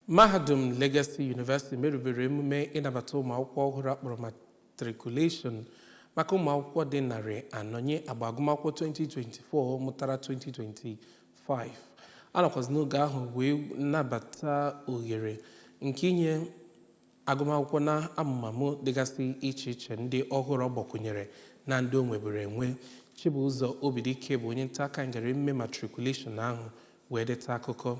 Mahadum Legacy University merubere emume ịnabata ụmụakwụkwọ ọhụrụ a kpọrọ matriculation maka ụmụakwụkwọ dị narị anọ nye agba agụmakwụkwọ 2024 mụtara 2025 a nọkwazi n'oge ahụ wee nabata ohere nke inye agụmakwụkwọ na amụmamụ dịgasị iche iche ndị ọhụrụ ọ gbakwụnyere na ndị o nweburu enwe Chibụzọ Obidike bụ onye nta akụkọ anyị gara emume matriculation ahụ wee deta akụkọ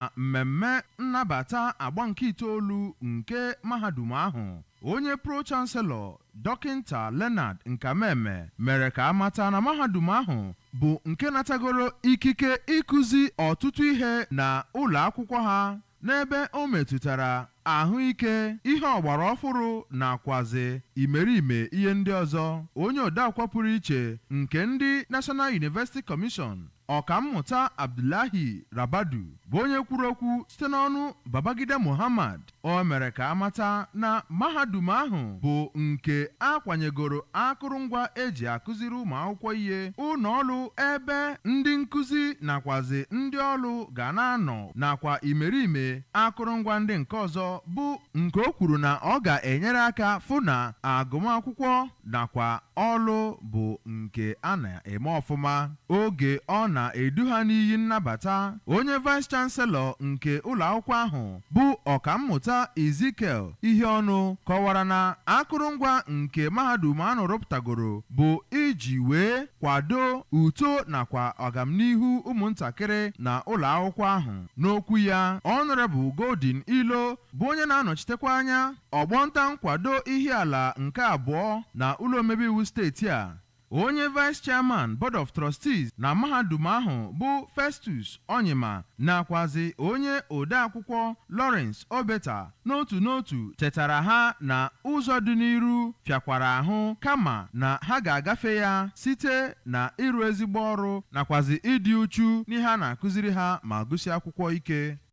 Na mmemme nnabata agba nke itoolu nke mahadum ahụ, onye Pro-Chancellor, Dọkịnta Leonard Nkameme mere ka a mata na mahadum ahụ bụ nke natagoro ikike ịkụzi ọtụtụ ihe na ụlọ akwụkwọ ha n'ebe o metụtara ahụike, ihe ọgbara ọfụrụ nakwazị imerime ihe ndị ọzọ, onye odeakwụkwọ pụrụ iche nke ndị National University Commission, Ọkammụta Abdullahi Rabadu, bụ onye kwuru okwu site n'ọnụ Babagida Mohammed. O mere ka a mata na mahadum ahụ bụ nke a kwanyegoro akụrụngwa e ji akụziri ụmụakwụkwọ ihe, ụnọọlụ ebe ndị nkụzi nakwazị ndị ọlụ ga na-anọ nakwa imerime akụrụngwa ndị nke ọzọ bụ nke o kwuru na ọ ga-enyere aka fụ na agụmakwụkwọ nakwa ọlụ bụ nke a na-eme ọfụma. Oge ọ na-edu ha n'iyi nnabata, onye Vice Chancellor nke ụlọakwụkwọ ahụ bụ Ọkammụta Ezekiel Iheọnụ kọwara na akụrụngwa nke mahadum ahụ rụpụtagoro bụ iji wee kwado uto nakwa ọgamnihu ụmụntakịrị na ụlọakwụkwọ ahụ. N'okwu ya, Honourable Golden Ilo bụ onye na-anọchitekwa anya ọgbọnta nkwado Ihiala nke abụọ na ụlọomebeiwu steeti a, onye Vice Chairman Board of Trustees na mahadum ahụ bụ Festus Onyima nakwazị onye odeakwụkwọ Lawrence Obeta n'otu n'otu chetara ha na ụzọ dị n'iru fịakwara ahụ kama na ha ga-agafe ya site na ịrụ ezigbo ọrụ nakwazi ịdị uchu n'ihe a na-akụziri ha ma gụsie akwụkwọ ike.